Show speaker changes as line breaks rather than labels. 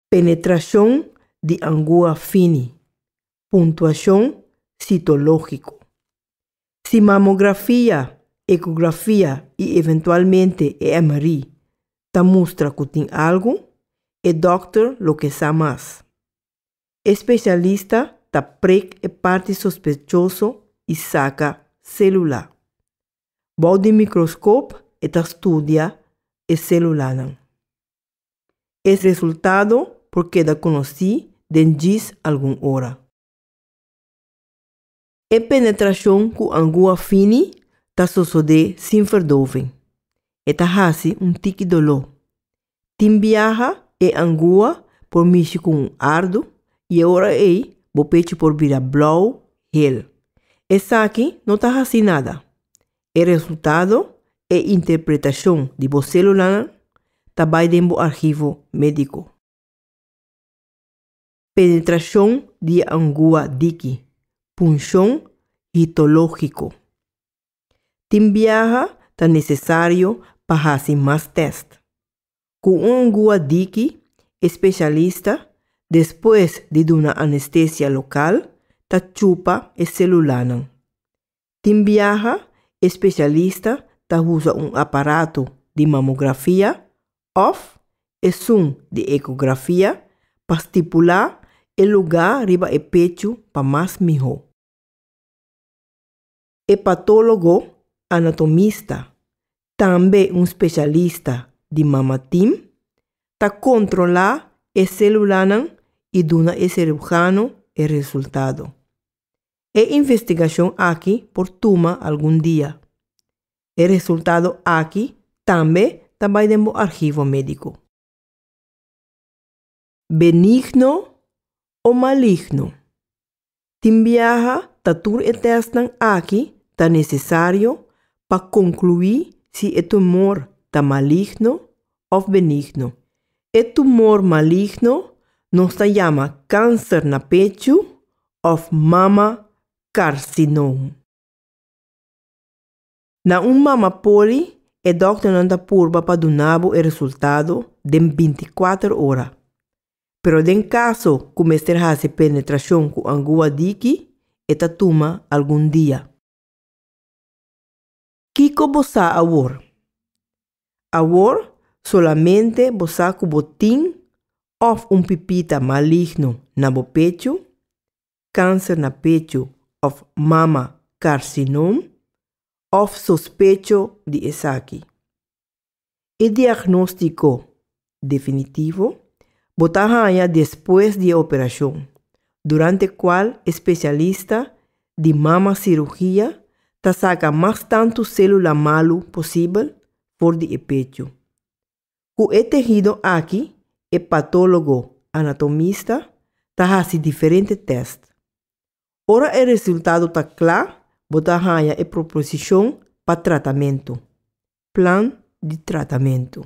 Penetrashon di angua fini. Puntuashon sitológiko. Si mamografia, ekografia i eventualmente e MRI ta mustra ku tin algu, e dòkter lo ke sa mas. E spesialista ta prek e parti sospechoso i saka sélula. Bou di mikroskop e ta studia e sélulanan. Es resultado por keda konosí den djis algun ora. E penetrashon ku angu a fini ta sosodé sin ferdoving. E ta hasi un tiki doló. Tin biaha e angu a por mishi ku un ardu i e ora ei bo pechu por bira blou, hel. Esaki no ta hasí nada. E resultado, e interpretashon di bo selulanan ta bai den bo arhivo médiko. Penetrashon di e angua diki, punshon hitológiko. Tin biaha ta nesesario pa hasi mas tèst. Ku un angua diki, e spesialista, despues di duna anestesia lokal, ta chupa e selulanan. Tin biaha e spesialista ta usa un aparato di mamografia òf esun di ekografia pa stipulá e lugá riba e pechu pa mas mihó. E patólogo anatomista, tambe un spesialista di mama tim, ta kontrolá e sélulanan i duna e sirujano e resultado. E investigacion aki por tuma algun dia. E resultado aki tambe ta bai den bo arhivo medico. Benigno o maligno? Tin biaha ta tur e testnan aki ta necesario pa conclui si e tumor ta maligno of benigno. E tumor maligno nos ta yama cancer na pechu of mama carcinom. Na un mama poli e dokternan ta purba pa duna bo e resultado den binti kuater ora. Pero den caso cu mester haci penetracion cu angua diki e ta tuma algun dia. Kiko bo sa awor? Awor solamente bo sa ku bo tin òf un pipita maligno na bo pechu, kanser na pechu òf mama karsinom òf sospecho di esaki. E diagnóstiko definitivo bo ta haña despues di e operashon, durante kual e spesialista di mama sirugia ta saka mas tantu sélula malu posibel for di e pechu. Ku e tehido aki e patólogo anatomista ta hasi diferente tèst. Ora e resultado ta kla, bo ta haña e proposishon pa tratamentu, Plan di Tratamentu.